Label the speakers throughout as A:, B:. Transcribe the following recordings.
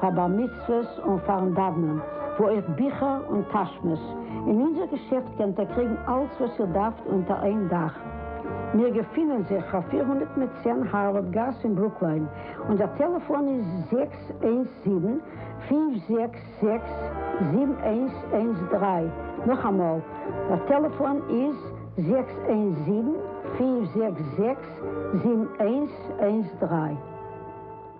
A: פאר בר מצוות און פארן דאוונען, וואו אויך ביכער און טאשמעס, אין אונזער געשעפט קענט איר קריגן אלץ וואס איר דארפט אונטער איין דאך. מיר געפינען זיך פאר פֿיר הונדערט מיט צען הארווארד גאס אין ברוקליין, אונזער טעלעפאן איז זעקס איינס זיבן, פֿינף זעקס זעקס, זיבן איינס איינס דרײַ, נאכאמאל, דער טעלעפאן איז זעקס איינס זיבן, פֿינף זעקס זעקס, זיבן איינס איינס דרײַ.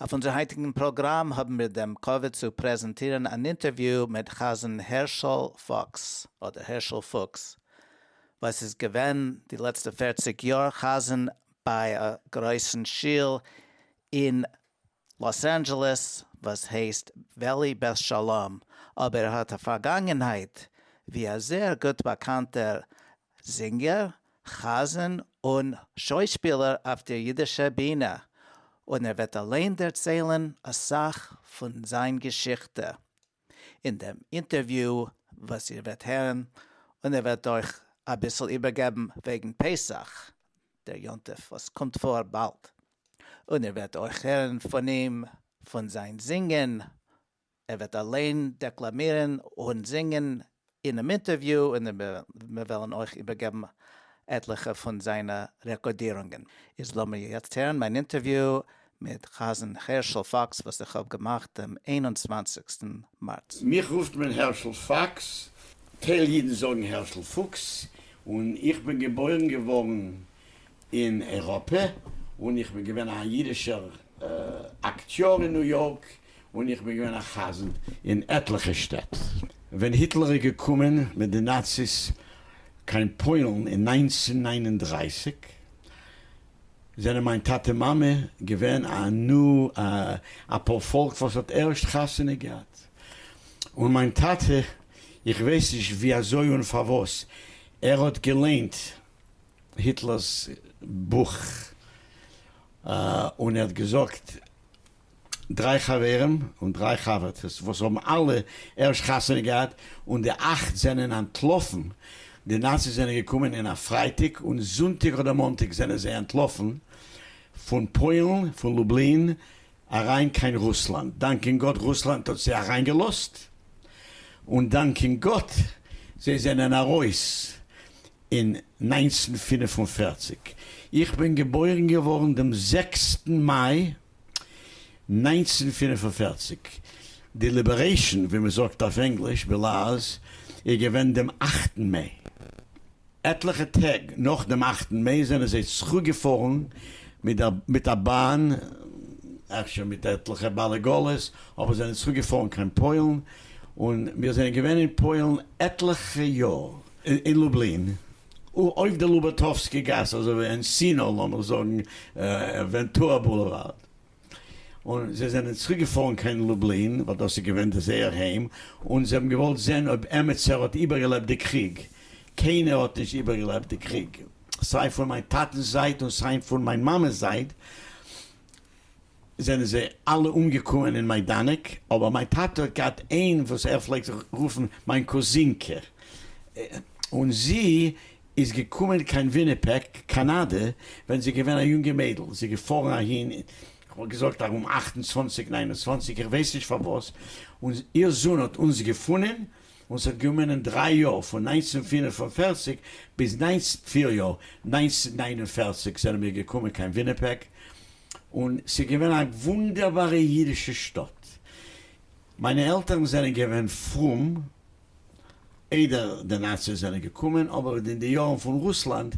B: אויף אונזער היינטיגן פראגראם האבן מיר דעם כבוד צו פרעזענטירן אן אינטערוויו מיט חזן הערשל פוקס, אדער הערשל פוקס, וואס איז געווען די לעצטע פערציג יאר חזן ביי א גרויסן שול אין לאס אנדזשעלעס וואס הייסט וועלי בית שלום, אבער ער האט א פארגאנגענהייט ווי א זעהר גוט באקאנטער זינגער, חזן און שוישפילער אויף דער יידישער בינע, און ער וועט אליין דערציילן א סך פון זיין געשיכטע אין דעם אינטערוויו וואס איר וועט הערן, און ער וועט אויך אביסל איבערגעבן וועגן פסח, דער יום טוב וואס קומט פאר באלד, און איר וועט אויך הערן פון אים פון זיין זינגען ער וועט אליין דעקלאמירן און זינגען אינעם אינטערוויו און מיר וועלן אויך איבערגעבן עטליכע פון זיינע רעקארדירונגען. איז לאמיר יעצט הערן מיין אינטערוויו מיט חזן הערשל פאקס וואס איך האב געמאכט דעם איין און צוואנציגסטן מארץ. מיך רופט מען
C: הערשל פאקס, טייל אידן זאגן הערשל פוקס, און איך בין געבוירן געווארן אין אייראפע און איך בין געווען א אידישער אקטיאר אין ניו יארק און איך בין געווען א חזן אין עטליכע שטעט ווען היטלער איז געקומען מיט די נאציס קיין פוילן אין נײַנצן הונדערט נײַן און דרײַסיק זענען מיין טאטע מאמע געווען א נ א א פארפאלק וואס האט ערשט חתונה געהאט און מיין טאטע איך ווייס נישט ווי אזוי און פארוואס ער האט געליינט היטלערס בוך און ער האט געזאגט דריי חברים און דריי חבר'טעס וואס האבן אלע ערשט חתונה געהאט און די אכט זענען אנטלאפן, די נאציס זענען געקומען אין א פרייטאג און זונטאג אדער מאנטאג זענען זיי אנטלאפן פון פוילן פון לובלין אריין קיין רוסלאנד, דאנקען גאט רוסלאנד האט זיי אריינגעלאזט און דאנקען גאט זיי זענען ארויס אין נײַנצן פֿינף און פֿערציק, איך בין געבוירן געווארן דעם זעקסטן מאי נײַנצן פֿינף און פֿערציק, די ליבערעישאן, ווי מען זאגט אויף ענגליש, בלאז, איז געווען דעם אכטן מעי. עטליכע טעג נאך דעם אכטן מעי זענען זיי צוריקגעפארן מיט א באן, אפשר מיט עטליכע בעלי גאלעס, אבער זענען צוריקגעפארן קיין פוילן, און מיר זענען געווען אין פוילן עטליכע יאר. אין לובלין, אויף די לובאטאווסקי גאס, אזוי ווי אין סינא, לאמיר זאגן ווענטורא בולעווארד, און זיי זענען צוריק געפארן קיין לובלין, ווייל דאס איז געווען די זייער היים, און זיי האבן געוואלט זען אויב עמיצער האט איבערגעלעבט די קריג, קיינער האט נישט איבערגעלעבט די קריג, סיי פון מיין טאטנ'ס זייט און סיי פון מיין מאמע'ס זייט. זענען זיי אלע אומגעקוען אין מיידאנעק, אבער מיין טאטע האט געהאט איין וואס ער פלעגט זיך רופן מיין קוזינקע, און זי איז געקומען קיין וויניפעק, קאנאדע, ווען זי איז געווען א יונגע מיידל, זי איז געפארן אהין, איך וואלט געזאגט ארום אַכט און צוואַנציק ניין און צוואַנציק, איך ווייס נישט פארוואס, און איר זון האט אונז געפונען, און ס'האט געומענען דריי יאר, פון נײַנצן פֿינף און פֿערציק ביז נײַנצן פֿיר יאר, נײַנצן נײַן און פֿערציק זענען מיר געקומען קיין וויניפעק, און ס'איז געווען א וואונדערבארע אידישע שטאט. מיינע עלטערן זענען געווען פרום איידער די נאציס זענען געקומען, אבער אין די יארן פון רוסלאנד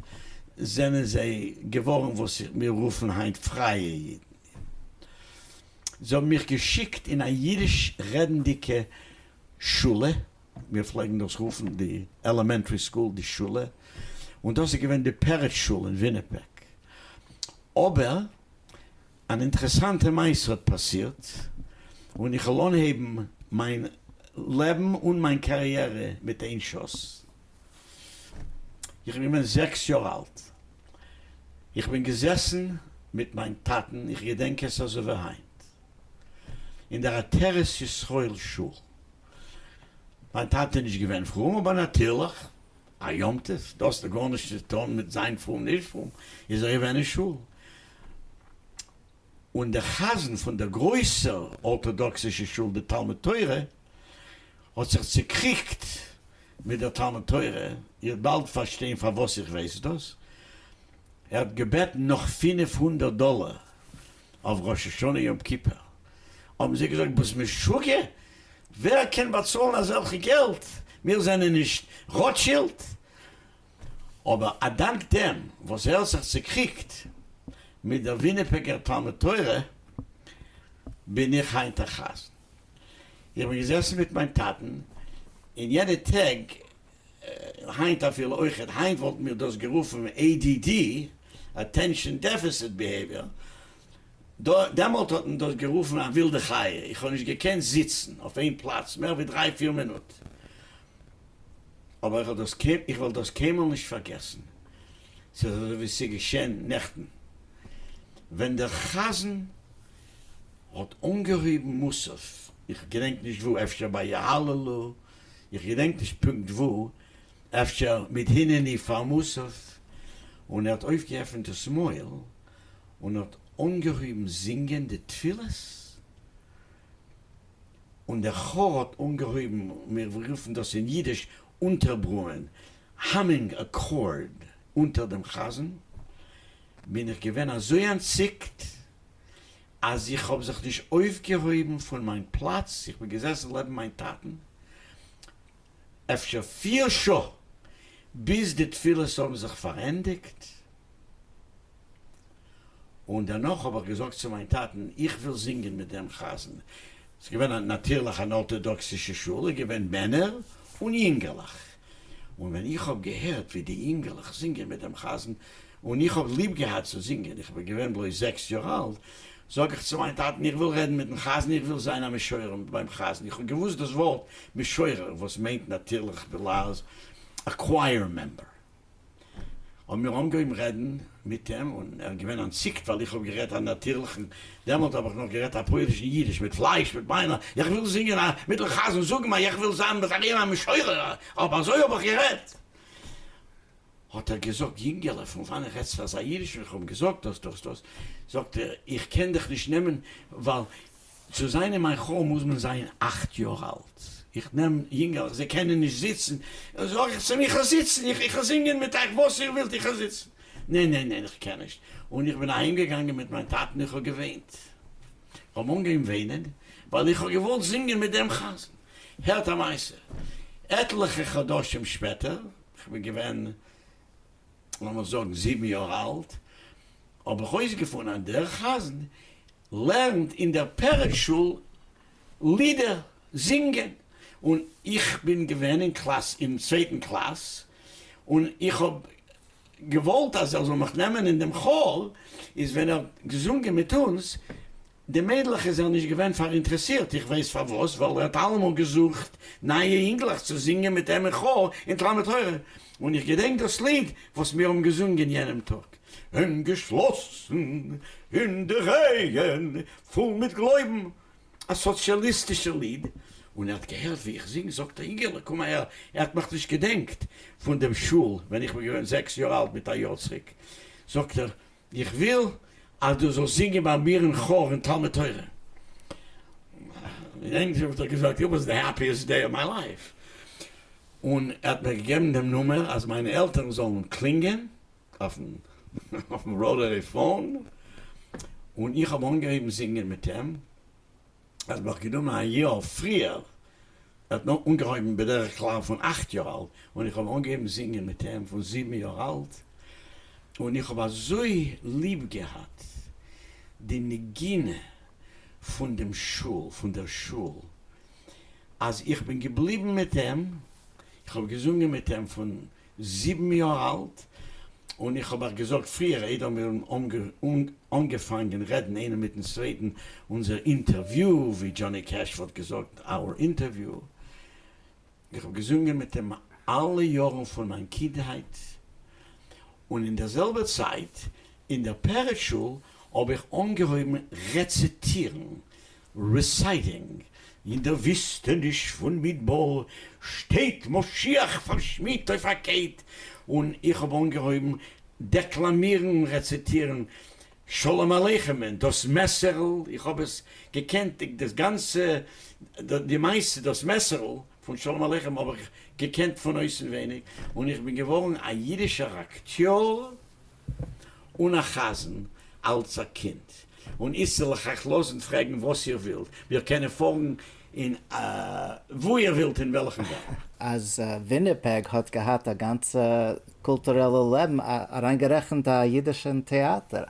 C: זענען זיי געווארן וואס מיר רופן היינט פרייע אידן. זיי האבן מיך געשיקט אין א אידיש רעדנדיגע שולע, מיר פלעגן דאס רופן די עלעמענטרי סקול די שולע, און דאס איז געווען די פערעטש שול אין וויניפעג. אבער אן אינטערעסאנטע מעשה האט פאסירט, און איך וועל אנהייבן מיין לעבן און מיין קאריערע מיט איין שאס. איך בין געווען זעקס יאר אלט, איך בין געזעסן מיט מיין טאטן, איך געדענק עס אזוי ווי היינט, אין דער עטרת ישראל שול. מיין טאטע איז נישט געווען פרום, אבער נאטירליך. א יום טוב, דאס האט גארנישט צו טון מיט זיין פרום נישט פרום, איז ער געווען אין שול, און דער חזן פון דער גרויסער ארטאדאקסישע שול די תלמוד תורה האט זיך צוקריגט מיט דער תלמוד תורה, איר וועט באלד פארשטיין פארוואס איך ווייס דאס, ער האט געבעטן נאך פֿינף הונדערט דאלער אויף ראש השנה יום כיפור האבן זיי געזאגט ביסט משוגע? ווער קען באצאלן אזעלכע געלט? מיר זענען נישט ראטשילד. אבער אדאנק דעם וואס ער האט זיך צוקריגט מיט דער וויניפעגער תלמוד תורה בין איך היינט א חזן. איך בין געזעסן מיט מיין טאטן אין יענע טעג. היינט אפילו אויכעט, היינט וואלטן מיר דאס גערופן ADD, Attention Deficit Behavior, דעמאלט האט מען דאס גערופן א ווילדע חיה, איך האב נישט געקענט זיצן אויף איין פלאץ מער ווי דריי פיר מינוט, אבער איך וועל דאס קיינמאל נישט פארגעסן, ס'איז אזוי ווי ס'איז געשען נעכטן, ווען דער חזן האט אנגעהויבן מוסף, איך געדענק נישט וואו, אפשר ביי יהללו, איך געדענק נישט פונקט וואו, אפשר מיט הנני פרנסך, און ער האט אויפגעעפנט דאס מויל און האט אנגעהויבן זינגען די תפילות, און דער כאר האט אנגעהויבן, מיר רופן דאס אין אידיש אונטערברומען, האמינג א קאורד, אונטער דעם חזן, בין איך געווען אזוי אנטציקט אז איך האב זיך נישט אויפגעהויבן פון מיין פלאץ, איך בין געזעסן לעבן מיין טאטן אפשר פיר שעה ביז די תפילות האבן זיך פארענדיגט, און דערנאך האב איך געזאגט צו מיין טאטן, איך וויל זינגען מיט דעם חזן, ס'איז געווען נאטירליך אן ארטאדאקסישע שול, איז געווען מענער און יונגערליך. און ווען איך האב געהערט ווי די אינגעלעך זינגען מיט דעם חזן, און איך האב ליב געהאט צו זינגען, איך בין געווען בלויז זעקס יאר אלט, זאג איך צו מיין טאטן, איך וויל רעדן מיט'ן חזן, איך וויל זיין א משורר ביים חזן, איך האב געוואוסט דאס ווארט משורר וואס מיינט נאטירליך בלעז א קווייער מעמבער. האבן מיר אנגעהויבן רעדן מיט אים, און ער איז געווען אנטציקט ווייל איך האב גערעדט א נאטירליכן, דעמאלט האב איך נאך גערעדט א פויערישן אידיש, מיט פלייש, מיט ביינער, איך וויל זינגען א, מיט'ן חזן זאגן א, איך וויל זיין בית החיים א משורר א, אויב אזוי האב איך גערעדט. האט ער געזאגט, יונגעלע, פון וואנעט רעדסטו אזא אידיש, ווען איך האב אים געזאגט דאס, דאס, דאס, זאגט ער, איך קען דיך נישט נעמען, ווייל צו זיין אין מיין חור מוז מען זיין אַכט יאר אלט, איך נעם יונגעלעך זיי קענען נישט זיצן, זאג איך צו מיר איך זיצן, איך איך זינגען מיט אייך וואס איר ווילט איך זיצן, ניין ניין ניין איך קען נישט, און איך בין אהיים געגאנגען מיט מיין טאטן איך האב געוויינט, איך האב אנגעהויבן וויינען ווייל איך האב געוואלט זינגען מיט דעם חזן, הערט א מעשה, עטליכע חדשים שפעטער, איך בין געווען לאמיר זאגן זיבן יאר אלט, האב איך אויסגעפונען אז דער חזן לערנט אין דער פרץ שול לידער זינגען, און איך בין געווען אין קלאס אין צווייטן קלאס, און איך האב געוואלט אז ער זאל מיך נעמען אין דעם כאר, איז ווען ער האט געזונגען מיט אונז די מיידלעך איז ער נישט געווען פאראינטרעסירט, איך ווייס פארוואס, ווייל ער האט אלעמאל געזוכט נייע אינגלעך צו זינגען מיט אים אין כאר אין תלמוד תורה, און איך געדענק דאס ליד וואס מיר האבן געזונגען יענעם טאג. און געשלאסן אין די רייען, פול מיט גלויבן. א סאציאליסטישער ליד, און ער האט געהערט ווי איך זינג, זאגט ער, איגעלע קום אהער, ער האט מיך נישט געדענקט פון דעם שול ווען איך בין געווען זעקס יאר אלט מיט א יאר צוריק, זאגט ער, איך וויל אז דו זאלסט זינגען ביי מיר אין כאר אין תלמוד תורה. אין ענגליש האב איך געזאגט, איט וואס די העפיעסט דעי אוו מיי לייף. און ער האט מיר געגעבן דעם נומער אז מיינע עלטערן זאלן קלינגען אויפן ראטערי פאון, און איך האב אנגעהויבן זינגען מיט אים, ער האט מיך גענומען א יאר פריער, ער האט נאר אנגעהויבן בדרך כלל פון אכט יאר אלט, און איך האב אנגעהויבן זינגען מיט אים פון זיבן יאר אלט, און איך האב אזוי ליב געהאט די נגינה פון דעם שול, פון דער שול, אז איך בין געבליבן מיט אים, איך האב געזונגען מיט אים פון זיבן יאר אלט, און איך האב אייך געזאגט פריער איידער מיר האבן אנגעפאנגען רעדן איינער מיטן צווייטן, אונזער אינטערוויו, ווי דזשאני קעש וואלט געזאגט, our interview. איך האב געזונגען מיט אים אלע יארן פון מיין קינדהייט, און אין דער זעלבער צייט אין דער פרק שול האב איך אנגעהויבן רעציטירן, ריסייטינג, אין דער וויסטעניש פון מדבר שטייט משיח פארשמידט אויף א קייט, און איך האב אנגעהויבן דעקלאמירן און רעציטירן שלום עליכם'ען דאס מעסערל, איך האב עס געקענט דאס גאנצע, די מעשה דאס מעסערל פון שלום עליכם האב איך געקענט פון אויסנווייניג, און איך בין געווארן א אידישער אקטיאר. אן א חזן אלץ א קינד, און איצטער לאך אייך לאזן פרעגן וואס איר ווילט, מיר קענען פארן אין וואו איר ווילט אין וועלכן וועלט. אז וויניפעג
B: האט געהאט א גאנצע קולטורעלע לעבן, אריינגערעכנט א אידישן טעאטער.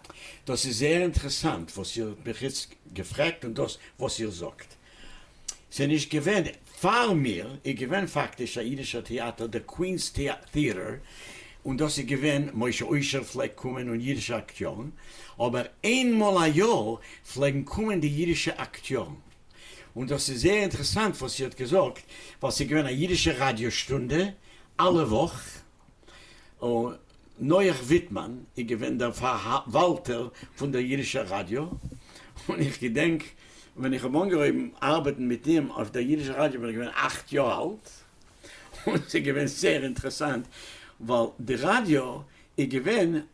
B: דאס איז זייער
C: אינטערעסאנט וואס איר האט מיך איצט געפרעגט און דאס וואס איר זאגט. ס'איז נישט געווען פאר מיר, איז געווען פאקטיש א אידישער טעאטער דער קווינס טעאטער און דאס איז געווען, משה אוישער פלעגט קומען און אידישע אקטיארן, אבער איין מאל א יאר פלעגן קומען די אידישע אקטיארן. און דאס איז זייער אינטערעסאנט וואס איר האט געזאגט, ווייל ס'איז געווען א אידישע ראדיא שטונדע אלע וואך, נח וויטמאן איז געווען דער פארוואלטער פון דער אידישער ראדיא, און איך געדענק ווען איך האב אנגעהויבן ארבעטן מיט אים אויף דער אידישער ראדיא בין איך געווען אכט יאר אלט, און ס'איז געווען זייער אינטערעסאנט, ווייל די ראדיא איז געווען.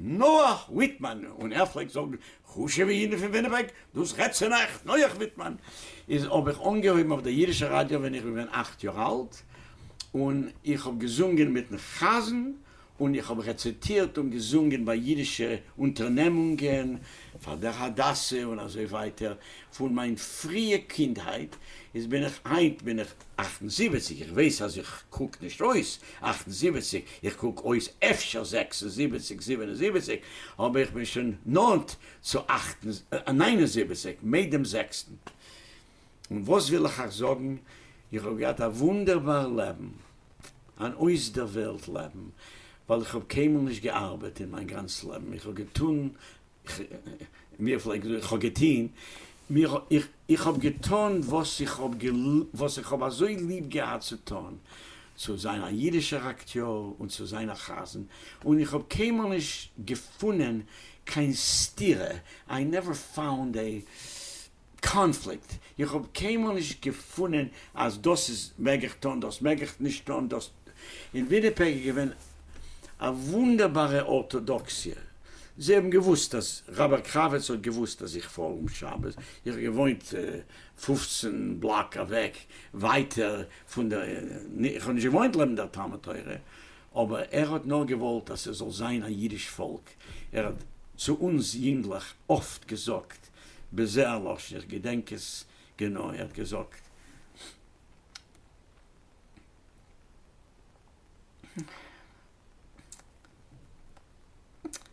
C: נח וויטמאן און ער פלעגט זאגן חשוב'ע אידן פון וויניפעג, דאס רעדט צו נח, נח וויטמאן איז האב איך אנגעהויבן אויף דער אידישער ראדיא ווען איך בין געווען אכט יאר אלט, און איך האב געזונגען מיטן חזן, און איך האב רעציטירט און געזונגען ביי אידישע אונטערנעמונגען פאר דער הדסה און אזוי ווייטער, פון מיין פריע קינדהייט, איז בין איך, היינט בין איך אַכט און זיבעציק, איך ווייס אז איך קוק נישט אויס אַכט און זיבעציק, איך קוק אויס אפשר זעקס און זיבעציק, זיבן און זיבעציק, אבער איך בין שוין נאנט צו אַכט און ניין און זיבעציק מער דעם זעקסטן. און וואס וויל איך אייך זאגן, איך האב געהאט א וואונדערבאר לעבן, אן אויסדערוועלט לעבן, ווייל איך האב קיינמאל נישט געארבעט אין מיין גאנץ לעבן, איך האב געטון ווי ער פלעגט זאגן, כ'האב געטוהן, איך האב געטאן וואס איך האב אזוי ליב געהאט צו טאן, צו זיין א אידישער אקטיאר און צו זיין א חזן, און איך האב קיינמאל נישט געפונען קיין סתירה, איי נעווער פאונד עי קאנפליקט, איך האב קיינמאל נישט געפונען אז דאס איז מעג איך טון דאס מעג איך נישט טון דאס, אין וויניפעג איז געווען א וואונדערבארע ארטאדאקסיע, זיי האבן געוואוסט אז רבי קרביץ האט געוואוסט אז איך פאר אום שבת, איך האב געוואוינט פֿופֿצן בלאק אוועק ווייטער פון די, איך האב נישט געוואוינט לעבן דער תלמוד תורה, אבער ער האט נאר געוואלט אז ס'זאל זיין א אידיש פאלק, ער האט צו אונז יונגלעך אפט געזאגט בזה הלשון, איך געדענק עס גענוי, ער האט געזאגט.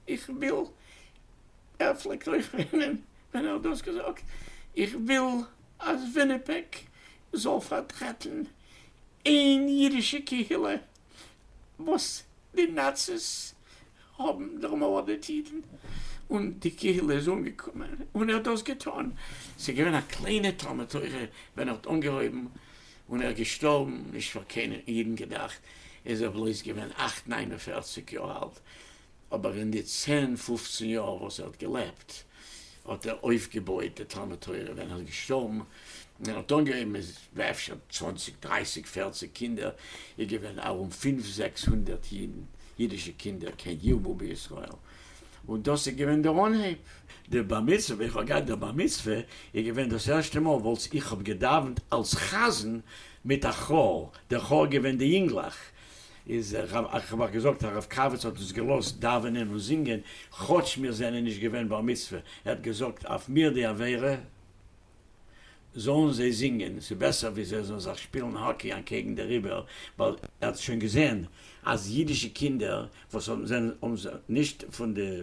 C: איך וויל, ער פלעגט אויך וויינען ווען ער האט דאס געזאגט, איך וויל אז וויניפעג זאל פארטרעטן איין אידישע קהילה וואס די נאציס האבן דערמארדעט אידן, און די קהילה איז אנגעקומען און ער האט דאס געטון, ס'איז געווען א קליינע תלמוד תורה ווען ער האט אנגעהויבן, און ער איז געשטארבן, נישט פאר קיינע אידן געדאכט, איז ער בלויז געווען אַכט ניין און פֿערציק יאר אלט, אבער אין די צען פופצען יאר וואס ער האט געלעבט האט ער אויפגעבויעט די תלמוד תורה, ווען ער איז געשטארבן און ער האט אנגעהויבן מיט אפשר צוואנציג דרייסיג פערציג קינדער, איז געווען ארום פינף זעקס הונדערט אידן, אידישע קינדער, כן ירבו בישראל, און דאס איז געווען דער אנהייב. די בר מצוה, איך האב געהאט די בר מצוה, איז געווען דאס ערשטע מאל וואס איך האב געדאווענט אלס חזן מיט א כאר, דער כאר איז געווען די יונגלעך, איז איך האב געזאגט הרב קאוויץ האט אונז געלאזט דאווענען און זינגען כאטש מיר זענען נישט געווען בר מצוה, ער האט געזאגט אויף מיר די עבירה זאלן זיי זינגען ס'איז בעסער ווי זיי זאלן זיך שפילן האקי אנקעגן די ריבער, ווייל ער האט שוין געזען אז אידישע קינדער וואס זענען נישט פון די.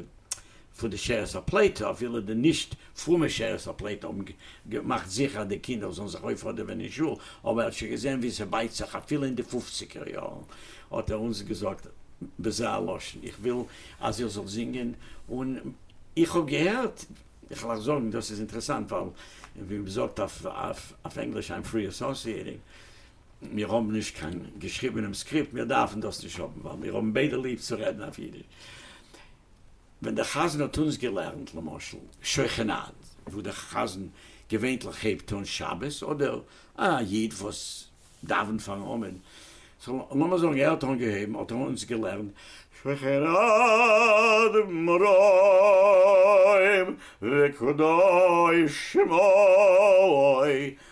C: פון די שארית הפליטה, אפילו די נישט פרומע שארית הפליטה האבן געמאכט זיכער אז די קינדער זאלן זיך אויפהאדעווען אין שול, אבער ער האט שוין געזען ווי ס'בייט זיך אפילו אין די פופציגער יארן, האט ער אונז געזאגט בזה הלשון, איך וויל אז איר זאלט זינגען, און איך האב געהערט, איך וועל אייך זאגן, דאס איז אינטערעסאנט, ווייל ווי מ'זאגט אויף ענגליש, איים פרי אסאסיעטינג. מיר האבן נישט קיין געשריבענעם סקריפט, מיר דארפן דאס נישט האבן, ווייל מיר האבן ביידע ליב צו רעדן אויף אידיש. ווען דער חזן האט אונז געלערנט, למשל, שוכן עד, וואו דער חזן געווענטליך הייבט אן שבת, אדער א איד וואס דאווענט פארן עמוד, סאו לאמיר זאגן ער האט אנגעהויבן, האט ער אונז געלערנט, שוכן עד מרעים וקדוש שמו,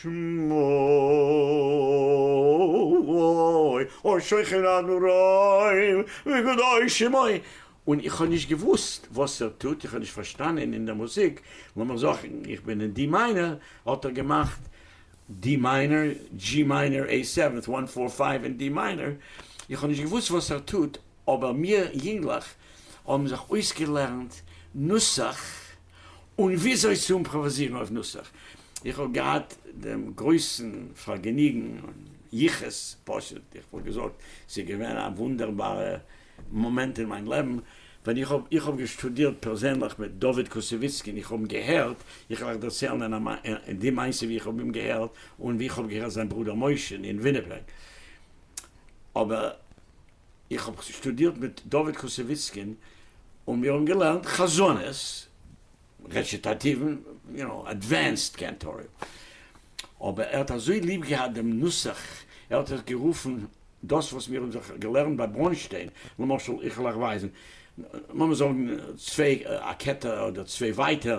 C: שמאוי, אוי שוכן אדורים וקדושים אוי. און איך האב נישט געוואוסט וואס ער טוט, איך האב נישט פארשטאנען אין די מוזיק, לאמיר זאגן איך בין אין די מיינער, האט ער געמאכט די מיינער, דזשי מיינער עי סעווענט וואן פאר פייוו אין די מיינער, איך האב נישט געוואוסט וואס ער טוט, אבער מיר יונגלעך האבן זיך אויסגעלערנט נוסח, און וויאזוי צו אומפראוואזירן אויף נוסח. איך האב געהאט דעם גרויסן פארגעניגן און יחוס, פשוט איך וואלט געזאגט ס'איז געווען א וואונדערבארע מאמענט אין מיין לעבן, ווען איך האב איך האב געשטודירט פערזענליך מיט דוד קוסעוויצקי און איך האב אים געהערט, איך וועל אייך דערציילן די מעשה ווי איך האב אים געהערט און ווי איך האב געהערט זיין ברודער משה אין וויניפעג, אבער. איך האב שטודירט מיט דוד קוסעוויצקין און מיר האבן געלערנט חזנות, רעציטאטיוון, יו נאו, עדווענסד קענטארי. אבער ער האט אזוי ליב געהאט דעם נוסח, ער האט עס גערופן, דאס וואס מיר האבן זיך געלערנט ביי ברוינשטיין, למשל, איך וועל אייך ווייזן, לאמיר זאגן צוויי א כתר אדער צוויי ווייטער,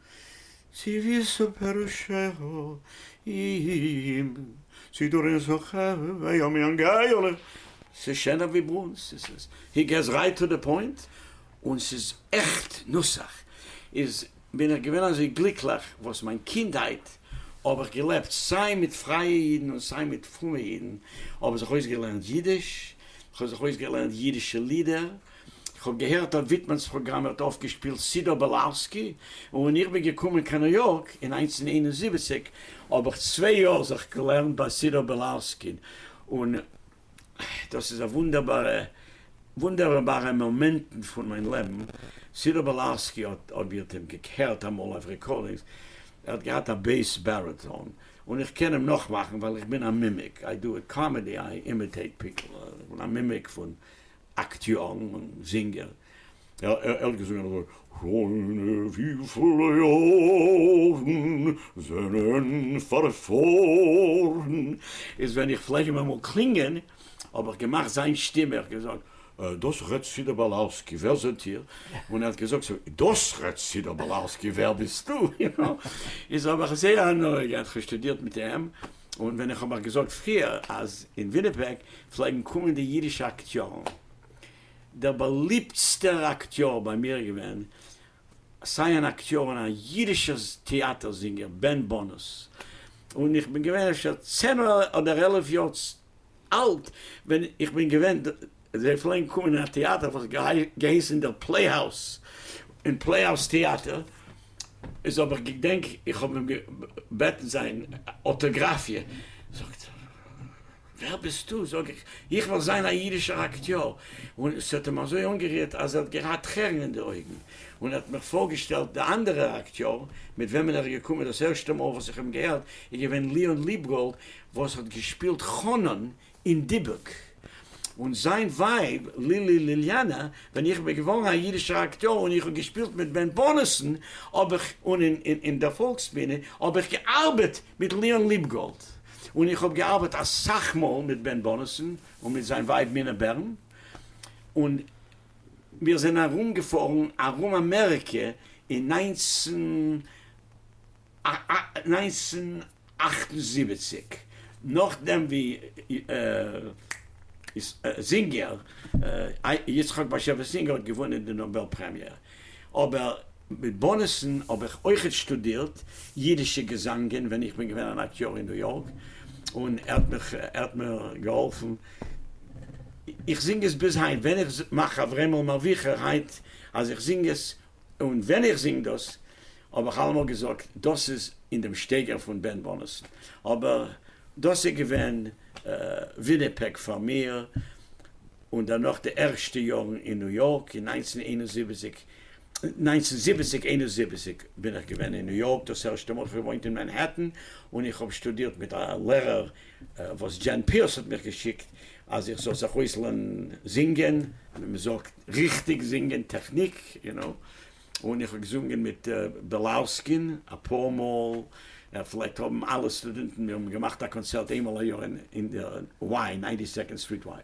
C: צי ווי סופר שכח אים צי דור אין זכר היום יום גאולה ס'איז שענער ווי ברונז ס'איז עס הי געס רייט טו די פוינט און ס'איז עכט נוסח איז בין איך געווען אזוי גליקליך וואס מיין קינדהייט האב איך געלעבט סיי מיט פרייע אידן און סיי מיט פרומע אידן כ'האב זיך אויסגעלערנט אידיש כ'האב זיך אויסגעלערנט אידישע לידער. כ'האב געהערט אז וויטמאנ'ס פראגראם ווערט אויפגעשפילט סידור בעלארסקי, און ווען איך בין געקומען קיין ניו יארק אין נײַנצן איין און זיבעציק האב איך צוויי יאר זיך געלערנט ביי סידור בעלארסקין, און דאס איז א וואונדערבארע וואונדערבארע מאמענטן פון מיין לעבן, סידור בעלארסקי האט, אויב איר האט אים געהערט אמאל אויף רעקארדינגס, ער האט געהאט א בעיס בעריטאן, און איך קען אים נאכמאכן ווייל איך בין א מימיק, איי דו איט קאמעדי, איי אימיטעיט פיפל, איך בין א מימיק פון אקטיארן און זינגער, ער האט געזונגען אזוי, שוין וויפיל יארן זענען פארפארן, איז ווען איך פלעג אים אמאל קלינגען האב איך געמאכט זיין שטימע, איך געזאגט, דאס ר' סידא באלארסקי, ווער זענט איר? און ער האט געזאגט, דאס ר' סידא באלארסקי, ווער ביסטו? איז האב איך זייער הנאה געהאט, כ'שטודירט מיט אים. און ווען איך האב אייך געזאגט פריער אז אין וויניפעג פלעגן קומען די אידישע אקטיארן, דער באליבטסטער אקטיאר ביי מיר איז געווען סיי אן אקטיאר און א אידישער טעאטער זינגער בען באנוס, און איך בין געווען אפשר צען אדער עלף יאר אלט ווען איך בין געווען, זיי פלעגן קומען אין א טעאטער וואס האט געהייסן דער פלעיהאוז, אין פלעיהאוז טעאטער, איז האב איך געדענק איך האב אים געבעטן זיין אוטאגראפיע, זאגט ער ווער ביסטו? זאג איך איך וויל זיין א אידישער אקטיאר, און עס האט אים אזוי אנגערירט אז ער האט געהאט טרערן אין די אויגן, און ער האט מיך פארגעשטעלט די אנדערע אקטיאר מיט וועמען ער איז געקומען, דאס ערשטע מאל וואס איך האב אים געהערט איז געווען ליאון ליבגאלד, וואס האט געשפילט חנן אין דיבוק, און זיין ווייב לילי ליליאנא, ווען איך בין געווארן א אידישער אקטיאר און איך האב געשפילט מיט בען בארנעסאן האב איך און אין דער פאלקסבינע האב איך געארבעט מיט ליאן ליבגאלד, און איך האב געארבעט אסאך מאל מיט בען בארנעסאן און מיט זיין ווייב מינה בערן, און מיר זענען ארומגעפארן ארום אמעריקע אין נײַנצן. נײַנצן אַכט און זיבעציק, נאָכדעם ווי זינגער, יצחק באַשעוויס זינגער האָט געוווּנען די נאָבעל פּרעמיע. אָבער מיט בונעסן האָב איך אויכעט שטודירט ייִדישע געזאַנגען ווען איך בין געווען אַן אַקטיאָר אין ניו-יאָרק, און ער האָט מיך, ער האָט מיר געהאָלפֿן. איך זינג עס ביז הײַנט. ווען איך מאַך אַברעמל מאַרוויכער הײַנט, אַז איך זינג עס, און ווען איך זינג דאס האב איך אלעמאל געזאגט דאס איז אין דעם שטייגער פון בן בנות אבער דאס איז געווען וויניפעג פאר מיר און דערנאך די ערשטע יארן אין ניו יארק אין נײַנצן איין און זיבעציק נײַנצן זיבעציק איין און זיבעציק בין איך געווען אין ניו יארק דאס ערשטע מאל איך האב געוואוינט אין מענהעטן און איך האב שטודירט מיט א לערער וואס דזשען פיערס האט מיך געשיקט אז איך זאל זיך אויסלערנען זינגען. מען זאגט ריכטיג זינגען טעכניק, יו נאו, און איך האב געזונגען מיט בילאוסקין אפאר מאל, ער פלעגט האבן אלע סטודענטן, מיר האבן געמאכט א קאנצערט איין מאל א יאר אין די וואי, ניינטי סעקאנד סטריט וואי.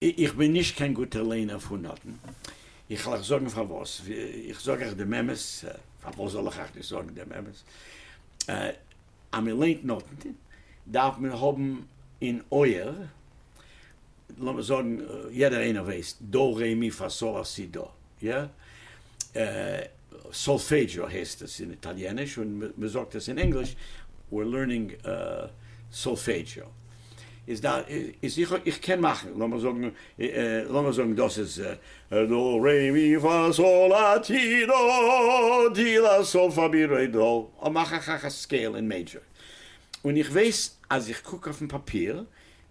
C: איך בין נישט קיין גוטער לערנער פון נאטן, איך על אייך זאגן פארוואס, איך זאג אייך דעם אמת, פארוואס זאל איך אייך נישט זאגן דעם אמת, אז מען לערנט נאטן דארף מען האבן אין אויער, לאמיר זאגן יעדער איינער ווייסט דא רע מ פא סא לה סי דא, יא? סאלפעדזשאו הייסט עס אין איטאליעניש און מען זאגט עס אין ענגליש We're learning solfeggio. איז דא איז איך קען מאכן לאמיר זאגן לאמיר זאגן דאס איז דא רע מ פא סא לה טי דא די לה סאל פא מי רע דא מאך איך אויך א סקעיל אין מעידזשער און איך ווייס אז איך קוק אויפן פאפיר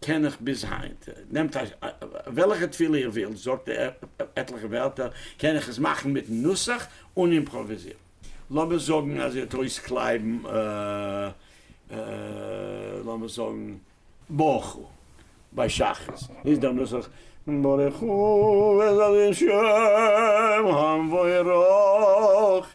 C: קען איך ביז היינט, נעמט וועלכע תפילה איר ווילט, זאגט עטליכע ווערטער, קען איך עס מאכן מיטן נוסח און אימפראוויזירן. לאמיר זאגן אז איר האט אויסקלייבן לאמיר זאגן ברוך הוא ביי שחרית, איז דער נוסח ברוך הוא וזל ישעיהם המבורך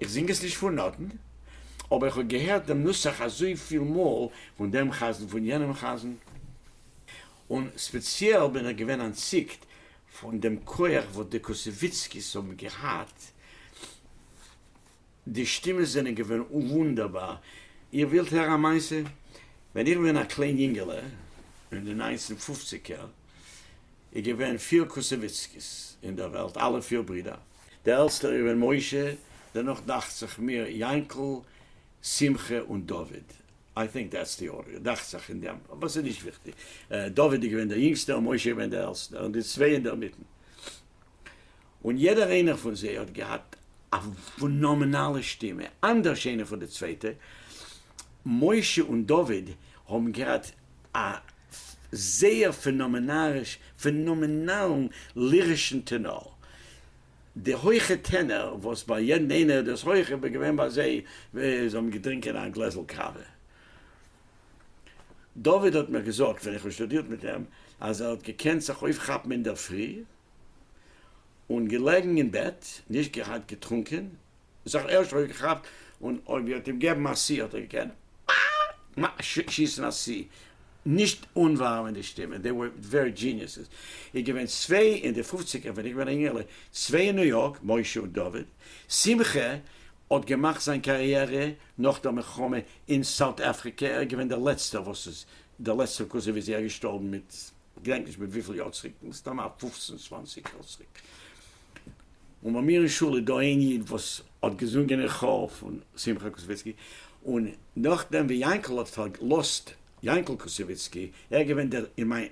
C: איך זינג עס נישט פון נאטן, אבער איך האב געהערט דעם נוסח אזויפיל מאל פון דעם חזן פון יענעם חזן, און ספעציעל בין איך געווען אנטציקט פון דעם כח וואס די קוסעוויצקיס האבן געהאט, די שטימעס זענען געווען וואונדערבאר. איר ווילט הערן א מעשה? ווען איך בין געווען א קליין יונגעלע אין די ניינצן פופציגער איז געווען פיר קוסעוויצקיס אין דער וועלט, אלע פיר ברידער, די עלטסטע איז געווען משה, דערנאך דאכצעך מיר יענקל, שמחה און דוד, איי טינק דעטס די ארדער, דאכצעך אין דעם, אבער ס'איז נישט וויכטיג, דוד איז געווען דער יונגסטער און משה איז געווען דער עלטסטער, און די צוויי אינדערמיטן, און יעדער איינער פון זיי האט געהאט א פנאמענאלע שטימע, אנדערש איינע פון די צווייטע, משה און דוד האבן געהאט א זייער פענאמענאריש פענאמענאלן לירישן טענאר. די הויכע טענער וואס ביי יעדן איינער איז דאס הויעך איז געווען ביי זיי ווי זיי האבן געטרינקען א גלעזל קאווע. דוד האט מיר געזאגט ווען איך האב שטודירט מיט אים אז ער האט געקענט זיך אויפכאפן אינדערפרי און געלעגן אין בעט, נישט געהאט געטרונקען זיך ערשט אויף געכאפט און אויב איר האט אים געבן א סי האט ער געקענט שיסן א סי נישט אנווארעמען די שטימע דעי ווער ווערי דזשיניעסעס איז געווען צוויי אין די פופציגער ווען איך בין א יונגערלע צוויי אין ניו יארק משה און דוד שמחה האט געמאכט זיין קאריערע נאך דער מלחמה אין סאוט אפריקע ער איז געווען דער לעצטער וואס איז דער לעצטער קאזין ווי זייער געשטארבן מיט כ'געדענק נישט מיט וויפיל יאר צוריק מסתם א פופצן צוואנציג יאר צוריק. און ביי מיר אין שול איז דא איין איד וואס האט געזונגען אין כאר פון שמחה קוסוויצקי, און נאכדעם ווי יענקל האט פארגלוסט, יענקל קוסוויצקי, ער איז געווען דער, אין מיין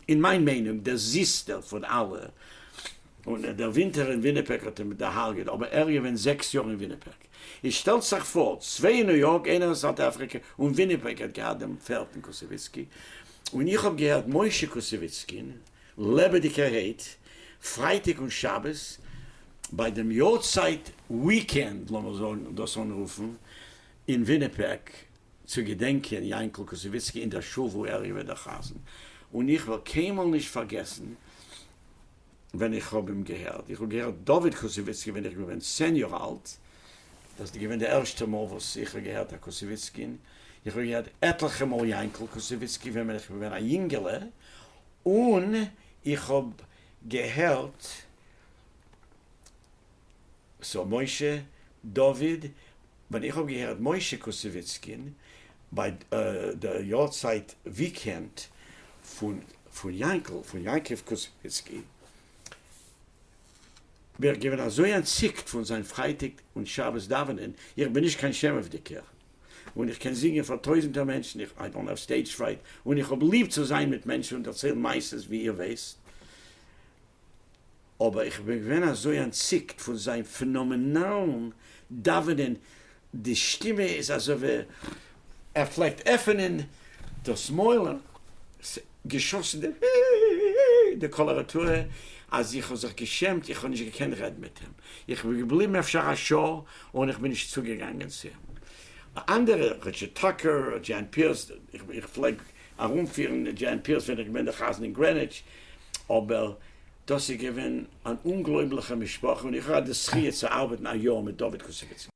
C: אין מיין מיינונג, דער זיסטער פון אלע, און דער ווינטער אין וויניפעג האט אים דערהארגעט, אבער ער איז געווען זעקס יאר אין וויניפעג. איז שטעלט זיך פאר, צוויי אין ניו יארק, איינער אין סאוט אפריקע, און וויניפעג האט געהאט דעם פערטן קוסוויצקי, און איך האב געהערט משה קוסוויצקין, לעבעדיגערהייט, פרייטאג און שבת, ביי דעם יארצייט וויקענד, לאמיר זאגן דאס אנרופן, אין וויניפעג, צו געדענקען יענקל קוסעוויצקי אין דער שול וואו ער איז געווען דער חזן, און איך וועל קיינמאל נישט פארגעסן ווען איך האב אים געהערט, איך האב געהערט דוד קוסעוויצקי ווען איך בין געווען צען יאר אלט, דאס איז געווען די ערשטע מאל וואס איך האב געהערט א קוסעוויצקין, איך האב געהערט עטליכע מאל יענקל קוסעוויצקי ווען בין איך געווען א יונגעלע, און איך האב געהערט סאו משה דוד, ווען איך האב געהערט משה קוסעוויצקין ביי די יארצייט וויקענד פון יענקל פון יעקב קוסעוויצקי, בין איך געווען אזוי אנטציקט פון זיין פרייטאג און שבת דאווענען, איך בין נישט קיין שעמעוודיגער. און איך קען זינגען פאר טויזענטער מענטשן, איך איי דאנט האוו סטעידזש פרייד, און איך האב ליב צו זיין מיט מענטשן און דערציילן מעשות ווי איר ווייסט, אבער איך בין געווען אזוי אנטציקט פון זיין פענאמענאלן דאווענען, די שטימע איז אזוי ווי ער פלעגט עפענען דאס מויל, געשאסן די היי די קאלאראטור אז איך האב זיך געשעמט איך האב נישט געקענט רעדן מיט אים איך בין געבליבן אפשר א שעה און איך בין נישט צוגעגאנגען צו די אנדערע ריטשארד טאקער דזשען פירס איך פלעג ארומפירן דזשען פירס ווען איך געווען דער חזן אין גרעניטש אבער דאס איז געווען אן אומגלויבליכע משפחה און איך האב געהאט די זכיה צו ארבעטן א יאר מיט דוד קוסעקיצקי.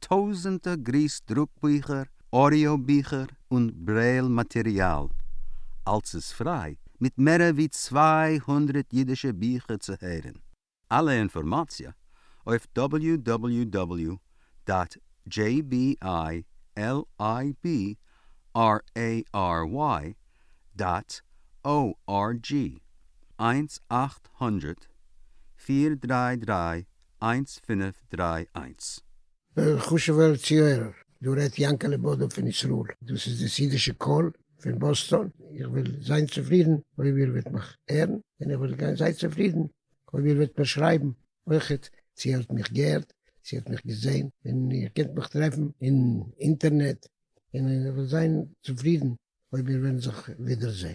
D: טויזענטער גריס דרוק ביכער, אודיאו ביכער און ברעיל מאטעריאל, אלס איז פריי, מיט מערער ווי צוויי הונדרעט אידישע ביכער צו הערען. אלע אינפארמאציע אויף דאבעליו דאבעליו דאבעליו דאט דזשעי בי איי על איי בי אר עי אר וויי דאט או אר דזשי, איינס אַכט הונדערט פֿיר דרײַ דרײַ איינס פינף דריי איינס. וועלכע
E: חשוב'ער צוהערער? דא רעדט יענקעלע בודא פון ישראל. דאס איז דאס אידישע קול פון באסטאן. איך וועל זיין צופרידן אויב איר וועט מיך הערן, און איך וועל גיין זייער צופרידן אויב איר וועט מיר שרייבן אויכעט צי איר האט מיך געהערט, צי איר האט מיך געזען, און איר קענט מיך טרעפן אין אינטערנעט, און איך וועל זיין צופרידן אויב מיר וועלן זיך ווידערזען.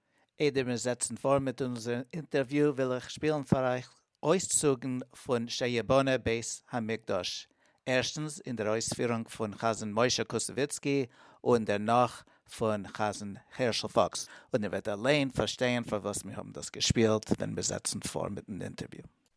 B: איידער מיר זעצן פאָר מיט אונזער אינטערוויו וויל איך שפּילן פאר אייך אויסצוגן פון שייבאנע בית המקדש, ערשטנס אין דער אויספירונג פון חזן משה קוסעוויצקי און דערנאך פון חזן הערשל פוקס, און איר וועט אליין פארשטייען פארוואס מיר האבן דאס געשפּילט ווען מיר זעצן פאָר מיטן אינטערוויו.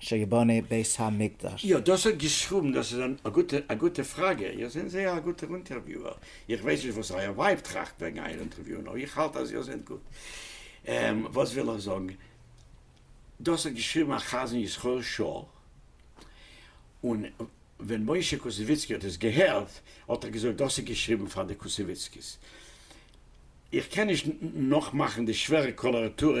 F: שייבאנע בית המקדש. יא דאס האט געשרובן
C: דאס איז א גוטע א גוטע פראגע איר זענט זייער א גוטער אונטערוויוער איך ווייס נישט וואס אייער ווייב טראכט וועגן אייער אונטערוויוען אבער איך האלט אז איר זענט גוט וואס וויל איך זאגן דאס האט געשריבן א חזן ישראל שור און ווען משה קוסעוויצקי האט עס געהערט האט ער געזאגט דאס איז געשריבן פאר די קוסעוויצקיס איך קען נישט נאכמאכן די שווערע קאלארעטורע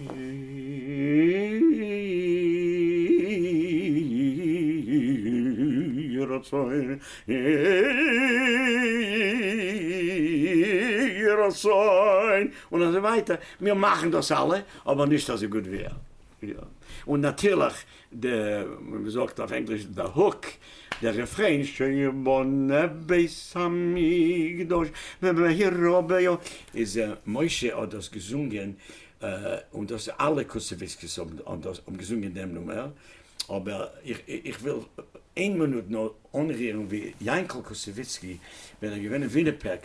C: יהי רצון יהי רצון און אזוי ווייטער, מיר מאכן דאס אלע אבער נישט אזוי גוט ווי ער, און נאטירליך די, ווי מ'זאגט אויף ענגליש, די הוק, די רעפרעין, שיבנה בית המקדש במהרה ביו. איז משה האט דאס געזונגען, און דאס אלע קוסעוויסקיס האבן געזונגען דעם נומער, אבער איך וויל איין מינוט נאר אנרירן ווי יענקל קוסעוויצקי ווען ער איז געווען אין וויניפעג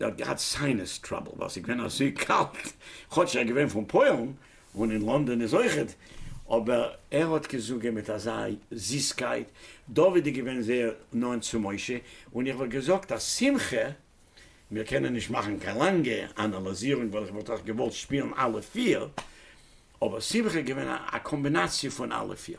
C: ער האט געהאט סיינעס טראבל ווייל ס'איז געווען אזוי קאלט, כאטש ער איז געווען פון פוילן און אין לאנדאן איז אויכעט, אבער ער האט געזאגען מיט אזא זיסקייט, דוד איז געווען זייער נאנט צו משה, און איך וואלט געזאגט אז שמחה, מיר קענען נישט מאכן קיין לאנגע אנאלאזירונג ווייל איך וואלט אויך געוואלט שפילן אלע פיר, אבער שמחה איז געווען א קאמבינאציע פון אלע פיר.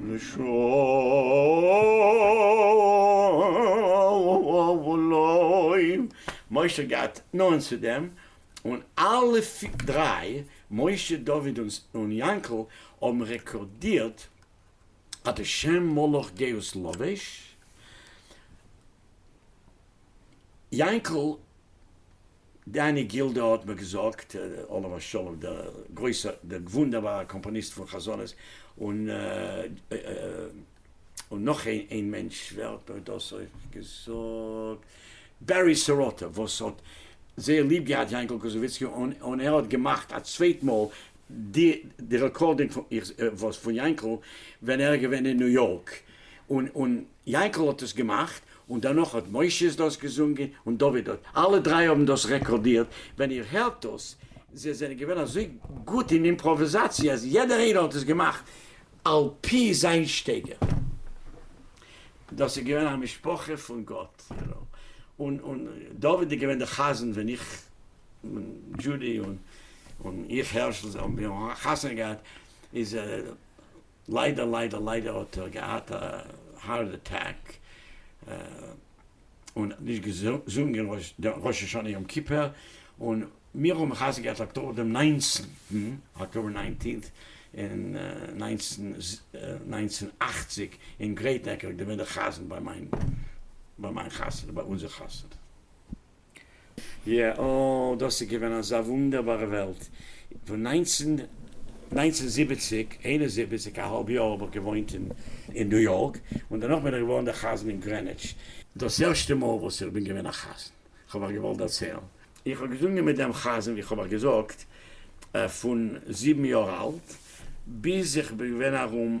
C: לשאול, משה האט געהאט נאענט צו דעם, און אלע דריי, משה, דוד און יענקל, האבן רעקארדירט אז די שם מלאך גאות לבש, יענקל, דני גילדא האט מיר געזאגט, עליו השלום, דער גרויסער, דער וואונדערבארער קאמפאניסט פון חזנות, און און נאך איין מענטש, ווער האט מיר דאס אויך געזאגט? בערי סירוטה, וואס האט זייער ליב געהאט יענקל קוזוביצקי, און ער האט געמאכט א צווייט מאל די די רעקארדינג פון יענקל ווען ער איז געווען אין ניו יארק, און און. יענקל האט עס געמאכט, און דערנאך האט משה עס דאס געזונגען, און דוד האט, אלע דריי האבן דאס רעקארדירט, ווען איר הערט דאס, זיי זענען געווען אזוי גוט אין אימפראוועזאציע אז יעדער איינער האט עס געמאכט על פי זיין שטייגער, דאס איז געווען א משפחה פון גאט, און דוד איז געווען דער חזן ווען איך און דזשודי און איך הערשל זיי האבן חתונה געהאט איז ליידער ליידער ליידער האט ער געהאט א הארט אטעק און נישט געזונגען ראש השנה יום כיפור, און מיר האבן מחזק געהאט אקטאבער דעם ניינצן, October nineteenth, אין נײַנצן נײַנצן אַכציק אין גרעיט נעק, ער האט געווען דער חזן ביי מיין ביי מיין חתונה, ביי אונזער חתונה. יעא, דאס איז געווען אזא וואונדערבארע וועלט. פון נײַנצן נײַנצן זיבעציק איין און זיבעציק א האלב יאר האב איך געוואוינט אין אין ניו יארק, און דערנאך בין איך געווארן דער חזן אין גרעניטש. דאס ערשטע מאל וואס איך בין געווען א חזן, איך האב אייך געוואלט דערציילן, איך האב געזונגען מיט דעם חזן, ווי איך האב אייך געזאגט, פון זיבן יאר אלט ביז איך בין געווען ארום